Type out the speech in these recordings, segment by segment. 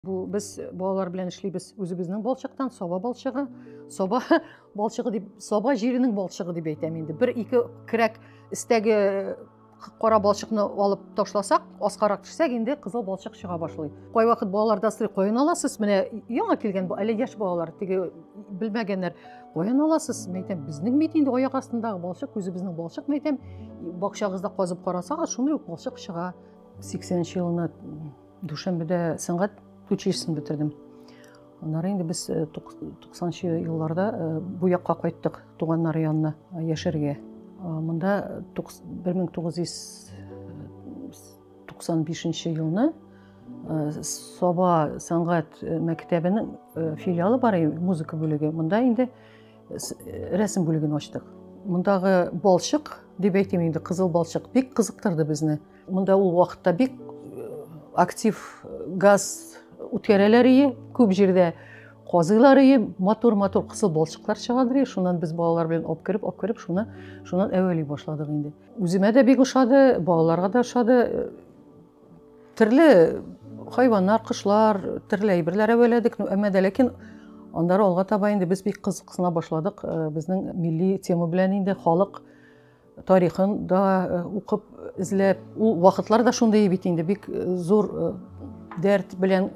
Бу без балалар белән эшлибез. Үзебезнең балчыктан саба балчыгы, саба балчыгы дип, саба җиренең балчыгы дип әйтәм инде. Бер ике кирәк истәге кара балчыкны алып ташласак, аскарак төшсәк, инде кызыл балчык чыга башлый. Кай вакыт балаларда сорый, каян аласыз? Менә яңа килгән бу әле яшь балалар, теге белмәгәннәр. Каян аласыз? Мен әйтәм, безнең бит инде аяк астындагы балчык, үзебезнең балчык, мен әйтәм, бакчагызда казып карасагыз, шундый ук балчык чыга. 80 елына Дүшәмбедә сәнгать училищесын бетердем. Аннары инде без 90-нчы э, елларда э, бу якка кайттык туганнар янына э, яшәргә. Монда 1995 елны Саба сәнгать мәктәбенең филиалы бар музыка бүлеге. Монда инде рәсем бүлеген ачтык. Мондагы балчык дип әйтим инде, кызыл балчык бик кызыктырды безне. Монда ул вакытта бик актив газ үткәрәләр ие, күп җирдә казыйлар ие, матур-матур кысыл балчыклар чыгадыр ие, шуннан без балалар белән алып кереп, алып кереп, шуны шуннан әвәли башладык инде. Үземә дә бик ошады, балаларга да ошады. Төрле хайваннар, кошлар, төрле әйберләр әвәләдек, ну, әмма дә ләкин Аннары алга таба инде без бик кызыксына башладык э, безнең милли тема белән инде халык тарихын да э, укып эзләп ул вакытлар да шундый бит инде бик э, зур э, дәрт белән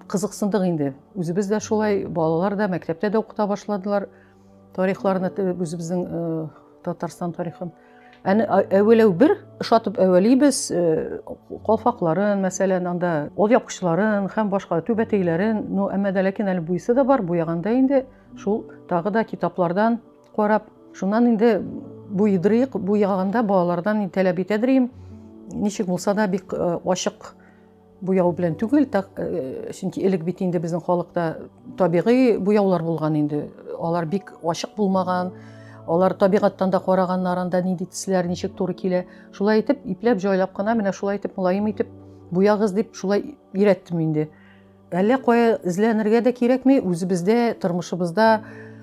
кызыксындык инде үзебез дә шулай балалар да мәктәптә дә укыта башладылар тарихларны үзебезнең татарстан тарихын әне әвәләү бер ошатып әвәлибез калфакларын мәсәлән анда ул япкычларын һәм башка түбәтәйләрен ну әмма дә ләкин әле буйсы да бар буяганда инде шул тагы да китаплардан Карап, шуннан инде буйдырыйк, буяганда балалардан таләп итәдер идем. Ничек булса да бик э, ачык буяу белән түгел, так, э, чөнки элек бит инде безнең халыкта табигый буяулар булган инде. Алар бик ачык булмаган, алар табигаттан да караганнарын да нинди төсләр ничек туры килә. Шулай итеп, ипләп җайлап кына менә шулай итеп мулаем итеп буягыз дип шулай өйрәттем инде. Әллә кая эзләнергә дә кирәкми, үзебездә, тормышыбызда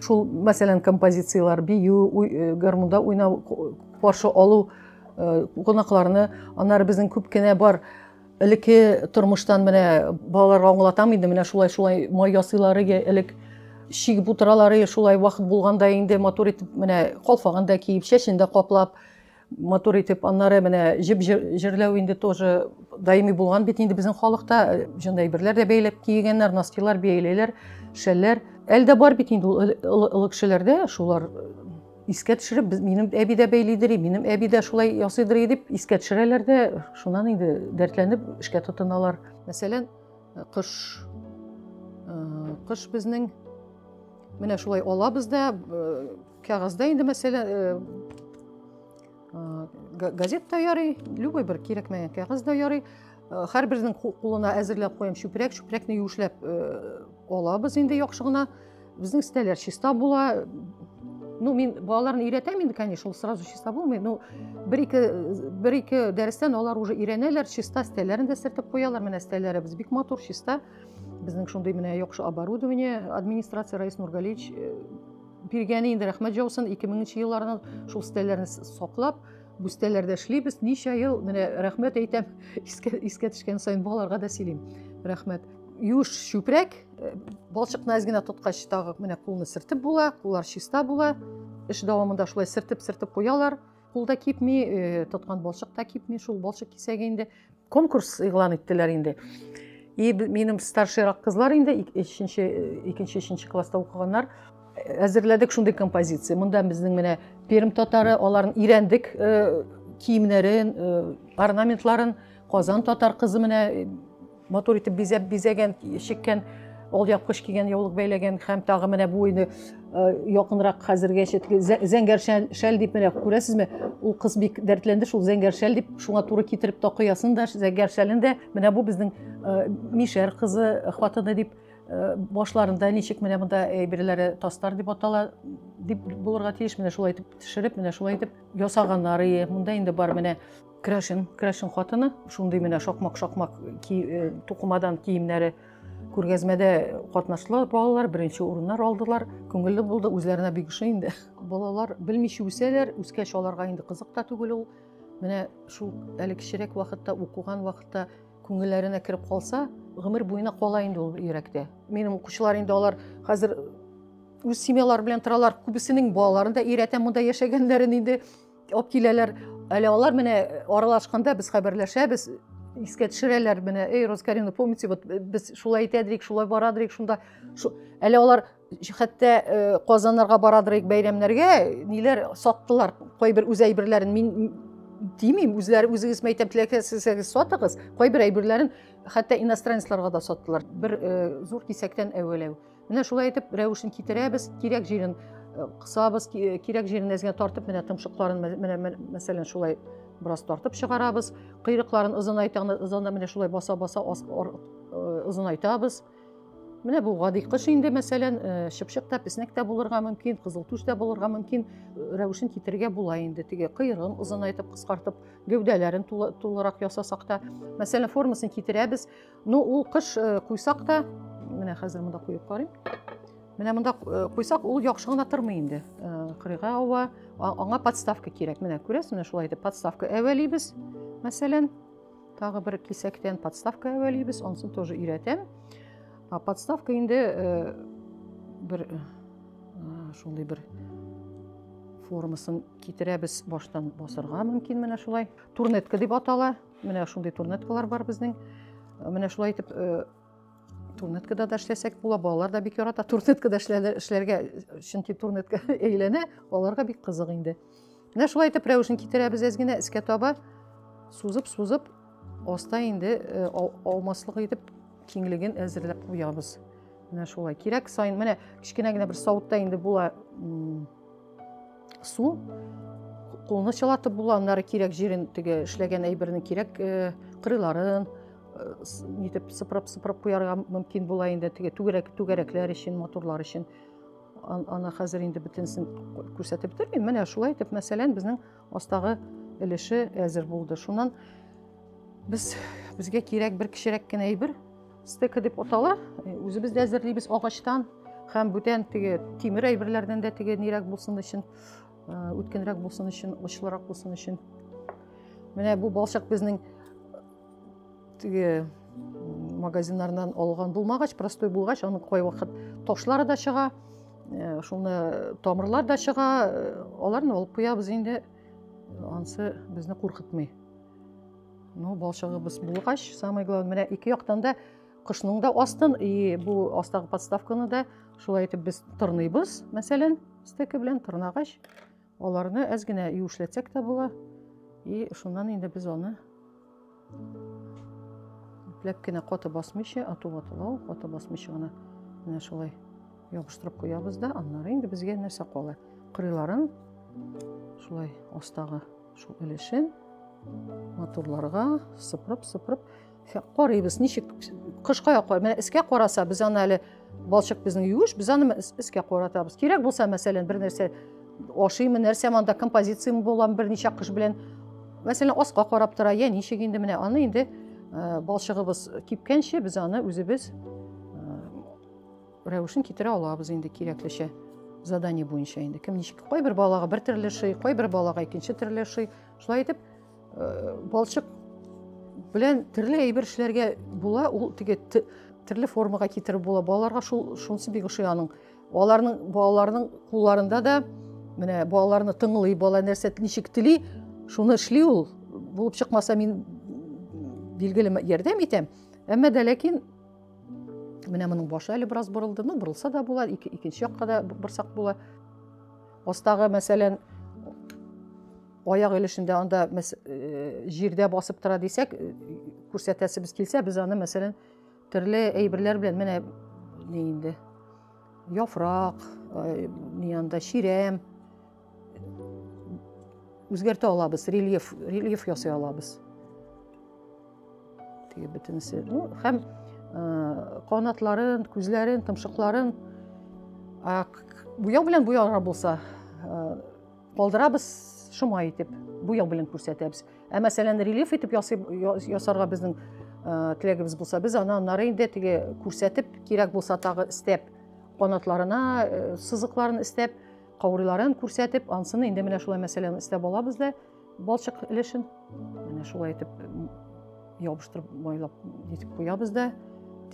шул, мәсәлән, композицияләр, бию, э, гармунда уйнау, каршы алу э, кунакларны, аннары безнең күп кенә бар элекке тормыштан менә балаларга аңлатам инде, менә шулай шулай май ясыйлар иде элек чигеп утыралар иде, шулай вакыт булганда инде матур итеп менә калфагын да киеп, чәчен дә каплап, матур итеп аннары менә җеп җерләү инде тоже даими булган бит инде безнең халыкта э, җонда әйберләр дә бәйләп кигәннәр носкилар бияләйләр шәлләр әле дә бар бит инде ул олы кешеләрдә шулар э, искә төшереп без минем әби дә бәйлидер минем әби дә шулай ясыйдыр дип искә төшерәләр дә шуннан инде дәртләнеп эшкә тотыналар мәсәлән э, кыш кыш безнең менә шулай алабыз да Кәгазьдә инде мәсьәлә газет та ярый, любой бер кирәкмәгән кәгазь дә ярый. Һәрбернең кулына әзерләп куям чүпрәк, чүпрәкне юешләп алабыз инде яхшы гына. Безнең стәләр чиста була. Ну, мин балаларны өйрәтәм инде, конечно, ул сразу чиста булмый. Ну, бер-ике бер-ике дәрестән алар уже өйрәнәләр, чиста стәләрен дә сертеп куялар. Менә стәләребез бик матур, чиста. Безнең шундый менә яхшы оборудование администрация Раис Нургалич Биргәне инде рәхмәт җаусын, 2000 нче елларны шул стәлләрне саклап, бүстәләрдә эшлибез. Ничә ел, менә рәхмәт әйтәм, искә, искә төшкән сайын балаларга да сөйлим. Рәхмәт. Юш чүпрәк, э, балчыкны әз генә тоткач тагы менә кулны сертеп була, куллар чиста була. Эш дәвамында шулай сертеп-сертеп куялар. кулда кипми э, тоткан балчык та кипми шул балчык кисәге инде конкурс игълан иттеләр инде и минем старшийрак кызлар инде өченче э, икенче өченче класста укыганнар әзерләдек шундый композиция монда безнең менә пермь татары аларны өйрәндек э, киемнәрен орнаментларын казан татар кызы менә Матур итеп бизәп бизәгән, чиккән, ол япкыч кигән, яулык бәйләгән һәм тагы менә бу инде якынрак хәзергә чәтле зәңгәр шәл, шәл дип менә күрәсезме? Ул кыз бик дәртләнде шул зәңгәр шәл дип, шуңа туры китереп такыясын да, зәңгәр шәлен дә. Менә бу безнең мишәр кызы, хатыны дип Э, башларында ничек менә монда әйберләре тастар дип атала дип булырга тиеш менә шулай итеп төшереп менә шулай итеп ясаганнар ие монда инде бар менә Крашин, Крашин хатыны, шундый менә шакмак-шакмак ки, э, тукымадан киемнәре күргәзмәдә катнаштылар балалар, беренче урыннар алдылар. Күңелле булды, үзләренә бик ошый инде. Балалар белмичә үсәләр, үскәч аларга инде кызык та түгел ул. Менә шул әле кечерәк вакытта, укуган вакытта күңелләренә кереп калса, гомер буена кала инде ул йөрәктә. Минем укучылар инде алар хәзер үз семьялары белән торалар. Күбесенең балаларын да өйрәтәм монда яшәгәннәрен инде. алып киләләр әле алар менә э, аралашканда без хәбәрләшәбез искә төшерәләр менә эй розкарина помните вот э, без шулай итәдерик шулай барадырыйк шунда шу... әле алар хәтта э, казаннарга барадырыйк бәйрәмнәргә ниләр саттылар кайбер үз әйберләрен мин тимим үзләре үзегез мәйтәм теләсәгез сатыгыз кайбер әйберләрен хәтта иностранецларга да саттылар бер зур кисәктән әвәләү Менә шулай итеп рәвешен китерәбез, кирәк җирен э, кысабыз, э, кирәк җирен әзгә тартып, менә тымшыкларын менә мәсәлән шулай бераз тартып чыгарабыз. Кыйрыкларын озынайтаны озында менә шулай баса-баса озынайтабыз. Э, менә бу гади кыш инде мәсәлән, чыпчык та, песнәк тә булырга мөмкин, кызыл түш тә булырга мөмкин. Рәвешен китерергә була инде. Теге кыйрыгын озынайтып, кыскартып, гәүдәләрен тулырак ясасак та, мәсәлән, формасын китерәбез. Ну, ул кыш э, куйсак та, менә хәзер монда куеп карыйм. Менә монда э, куйсак, ул яхшы гына тормый инде. Э, кырыйга ава, аңа подставка кирәк. Менә күрәсез, менә шулай итеп подставка әвәлибез. Мәсәлән, тагы бер кисәктән подставка әвәлибез, онсын тоже өйрәтәм. А подставка инде бер шундый бер формасын китерәбез баштан басырга мөмкин менә шулай турнетка дип атала Менә шундый турнеткалар бар безнең. Менә шулай итеп э, турнеткада да эшләсәк була. Балалар да бик ярата турнеткада эшләргә, чөнки турнетка әйләнә, аларга бик кызык инде. Менә шулай итеп рәвешен китерәбез әз генә искә таба сузып, сузып, аста инде э, алмаслык итеп киңлеген әзерләп куябыз. Менә шулай. Кирәк сайын менә кечкенә генә бер савытта инде була Су кулны чылатып була, аннары кирәк җирен теге эшләгән әйберне кирәк э, кырыйларын э, нитеп сыпырып сыпырып куярга мөмкин була инде теге түгәрәк түгәрәкләр өчен моторлар өчен аны хәзер инде бөтенесен күрсәтеп бетермим менә шулай итеп мәсәлән безнең Астагы өлеше әзер булды. Шуннан без безгә кирәк бер кечерәк кенә әйбер, стека дип атала. Э, үзебез дә әзерлибез агачтан һәм бүтән теге тимер әйберләрдән дә теге нирәк булсын өчен, э, үткенрәк булсын өчен, очлырак булсын өчен. Менә бу балчык безнең теге магазиннардан алган булмагач простой булгач аны кайвакыт ташлары да чыга э, шуны тамырлар да чыга э, аларны алып куябыз инде ансы безне куркытмый ну балчыгыбыз булгач самое главное менә ике яктан да кышның да астын и бу астагы подставканы да шулай итеп без тырныйбыз мәсәлән стеки белән тырнагач Аларны әз генә юешләтсәк тә була. И шуннан инде без аны ипләп кенә каты басмыйча, ату ватылау, каты басмыйча гына менә шулай ябыштырып куябыз да, аннары инде безгә нәрсә кала? Кырыйларын шулай астагы шул өлешен матурларга сыпырып-сыпырып Карыйбыз, ничек кышка якар. Менә эскә караса, без аны әле балчык безнең юеш, без аны эскә каратабыз. Кирәк булса, мәсәлән, бер нәрсә ашыймы, нәрсә монда композицияме булам берничә кыш белән. Мәсәлән, аска карап тора, я ничек инде менә аны инде э, балчыгыбыз кипкәнче без аны үзебез э, рәвешен китерә алабыз инде кирәклечә задание буенча инде кем ничек кайбер балага бер төрле шый кайбер балага икенче төрле шый шулай итеп Э, балчык белән төрле әйбер эшләргә була, ул теге төрле формага китереп була. Балаларга шул шунысы бик ошый аның. Аларның балаларның кулларында да менә балаларны тыңлый, бала нәрсә ничек тели, шуны эшли ул. Булып чыкмаса мин билгеле ярдәм итәм. Әмма дә ләкин менә моның башы әле бераз борылды, ну борылса да була, ике, икенче якка да борсак була. Астагы мәсәлән аяк өлешендә анда җирдә басып тора дисәк күрсәтәсебез килсә без аны мәсәлән төрле әйберләр белән менә ни инде яфрак ни анда чирәм үзгәртә алабыз рельеф рельеф ясый алабыз теге бөтенесе ну һәм канатларын күзләрен томшыкларын буяу белән буярга булса Калдырабыз шома итеп, буяу белән күрсәтәбез. Ә мәсәлән, рельеф итеп ясый, ясарга безнең ә, теләгебез булса, без аны аннары инде теге күрсәтеп, кирәк булса тагы истәп, канатларына ә, сызыкларын истәп, кауриларын күрсәтеп, ансыны инде менә шулай мәсәлән истәп алабыз да балчык өлешен менә шулай итеп ябыштырып майлап итеп куябыз да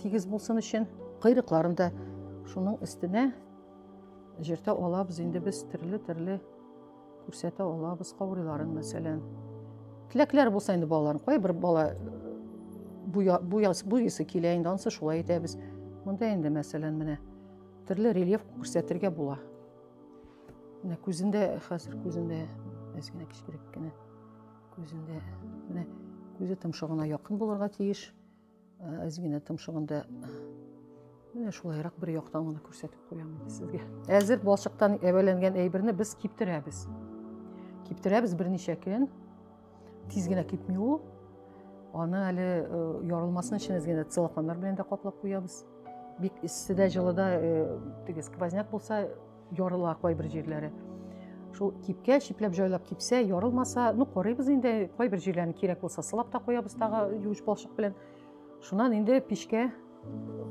тигез булсын өчен. Кыйрыкларын да шуның өстенә Җиртә алабыз инде без төрле-төрле күрсәтә алабыз каурыйларын мәсәлән. Теләкләр булса инде балаларын кай бер бала буя, буя, буясы килә инде ансы шулай итәбез. Монда инде мәсәлән менә төрле рельеф күрсәтергә була. Менә күзендә хәзер күзендә әзгенә кечкерәк кенә күзендә менә күзе томшыгына якын булырга тиеш. Әзгинә томшыгында Менә шулайрак бер яктан гына күрсәтеп куям инде сезгә. Әзер балчыктан әвәләнгән әйберне без киптерәбез. Киптерәбез берничә көн. Тиз генә кипми ул. Аны әле э, ярылмасын өчен әзгенә целлофаннар белән дә каплап куябыз. Бик эсседә, җылыда э, теге сквозняк булса, Ярыла кайбер җирләре. Шул кипкә чипләп җайлап кипсә, ярылмаса, ну карыйбыз инде, кайбер җирләрен кирәк булса сылап та куябыз тагы юеш балчык белән. Шуннан инде пешкә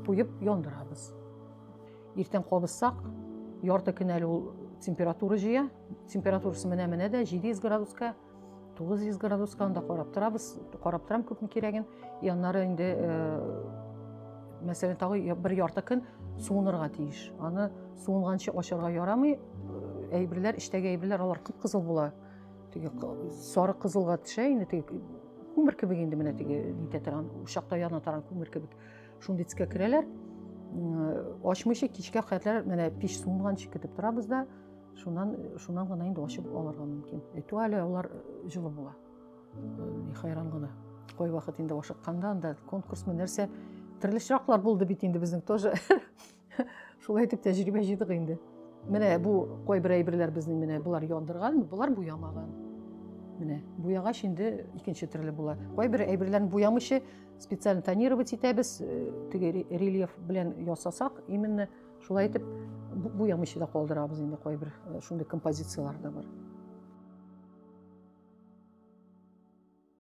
куеп яндырабыз. Иртән кабызсак, ярты көн әле ул температура җыя. Температурасы менә-менә дә 700 градуска 900 градуска анда карап торабыз, карап торам күпме кирәген. И аннары инде мәсәлән тагы бер ярты көн суынырга тиеш. Аны суынганчы ашарга ярамый. Әйберләр, эчтәге әйберләр алар кып-кызыл була. Теге сары кызылга төшә инде теге күмер кебек инде менә теге нитә торган, учакта яна торган күмер кебек. Шундый төскә керәләр. Ачмыйча кичкә кадәр менә пич суынганчы көтеп торабыз да. Шуннан, шуннан гына инде ачып алырга мөмкин. Әйтү әле алар җылы була. Ни хайран гына. Кой вакыт инде ашыкканда анда конкурс мы нәрсә төрле чираклар булды бит инде безнең тоже. Шулай итеп тәҗрибә җыйдык инде. Менә бу кой бер әйберләр безнең менә булар яндырган, булар буямаган. Менә буягач инде икенче төрле була. Кой бер әйберләрне буямыйча специально тонировать итәбез, э, теге рельеф белән ясасак, именно Шулай итеп, буямыйча да калдырабыз инде кайбер э, шундый композицияләр дә бар.